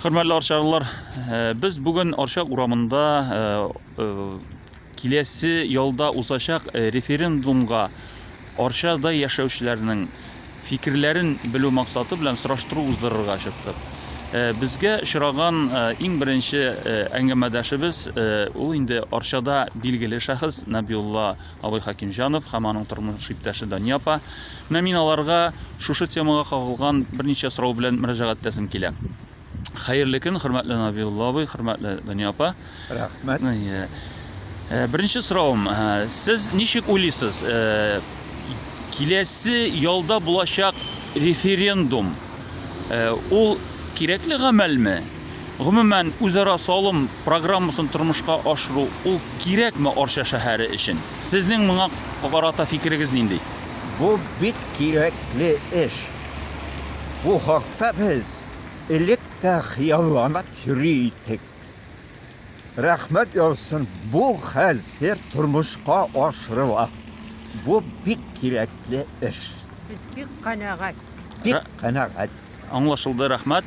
Хөрмәтле арчалылар, э, без бүген Арча урамында э, э, киләсе ялда узачак референдумга Арчада яшәүчеләрнең фикерләрен белү максаты белән сораштыру уздырырга чыктык. Безгә очраган иң беренче әңгәмәдәшебез ул инде Арчада билгеле шәхес Набиулла абый Хәкимҗанов һәм аның тормыш иптәше Дания апа. Менә мин аларга шушы темага кагылган берничә сорау белән мөрәҗәгать итәсем килә. Хәерле көн, хөрмәтле Набиулла абый, хөрмәтле Дания апа. Рәхмәт. Ну, иә. Э, Беренче сорауым, э, сез ничек уйлыйсыз, э, киләсе ялда булачак референдум э, ул кирәкле гамәлме? Гомумән, үзара салым программасын тормышка ашыру, ул кирәкме Арча шәһәре өчен? Сезнең моңа карата фикерегез нинди? Бу бик кирәкле эш. Бу хакта без элек тә хыялланып йөри идек. Рәхмәт яусын, бу хәзер тормышка ашырыла. Бу бик кирәкле эш. Без бик канәгать. Бик канәгать. Аңлашылды, рәхмәт.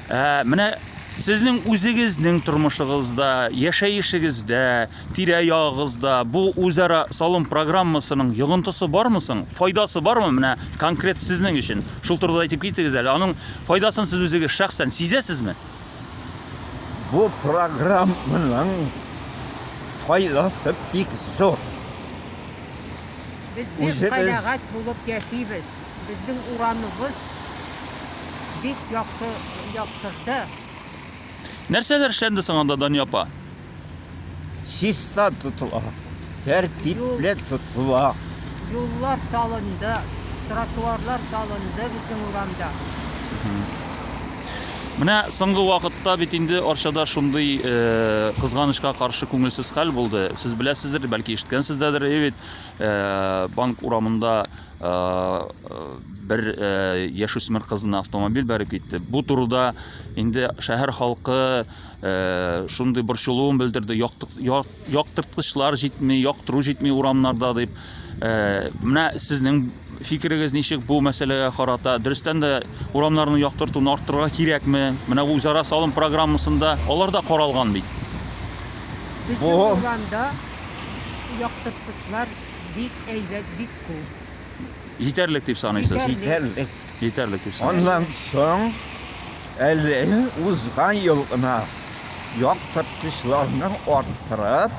Ә, менә сезнең үзегезнең тормышыгызда, яшәешегездә, тирә-ягыгызда бу үзара салым программасының йогынтысы бармы соң? Файдасы бармы менә конкрет сезнең өчен? Шул турыда әйтеп китегез әле. Аның файдасын сез үзегез шәхсән сизәсезме? Бу программаның файдасы бик зур. Без бик Үзебез- канәгать булып яшибез. Безнең урамыбыз бик яхшы яктырды. Нәрсәләр эшләнде соң анда, Дания апа? Чиста тотыла, тәртипле тотыла. Юллар салынды, тротуарлар салынды безнең урамда. Менә соңгы вакытта бит инде Арчада шундый э, кызганычка каршы күңелсез хәл булды. Сез беләсездер, бәлки ишеткәнсездер, бит э, банк урамында бер яшүсмер кызына автомобиль бәреп китте. Бу турыда инде шәһәр халкы шундый борчылуын белдерде. Яктырткычлар җитми, яктыру җитми урамнарда дип. Менә сезнең фикерегез ничек бу мәсьәләгә карата? Дөрестән дә урамнарны яктыртуны арттырырга кирәкме? Менә үзара салым программасында алар да каралган бит. Безнең урамда яктырткычлар бик әйбәт, бик Җитәрлек дип саныйсыз? Җитәрлек. Җитәрлек дип саныйсыз. Аннан соң әле узган ел гына яктырткычларны арттырып,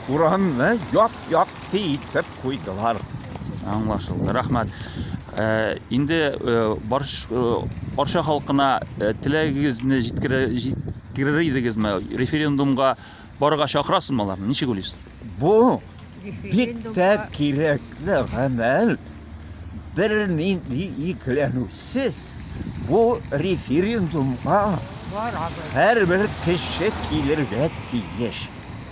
урамны яп-якты итеп куйдылар. Аңлашылды. Рәхмәт. Э, инде э, барш э, Арча халкына теләгегезне җиткерер идегезме? Референдумга барырга чакырасызмы аларны? Ничек уйлыйсыз? Бу бик тә кирәкле гамәл. Бер нинди икеләнүсез бу референдумга һәрбер кеше килергә тиеш.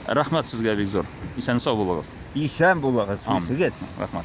Рәхмәт сезгә бик зур. Исән-сау булыгыз. Исән булыгыз, Ам. үзегез. Рәхмәт.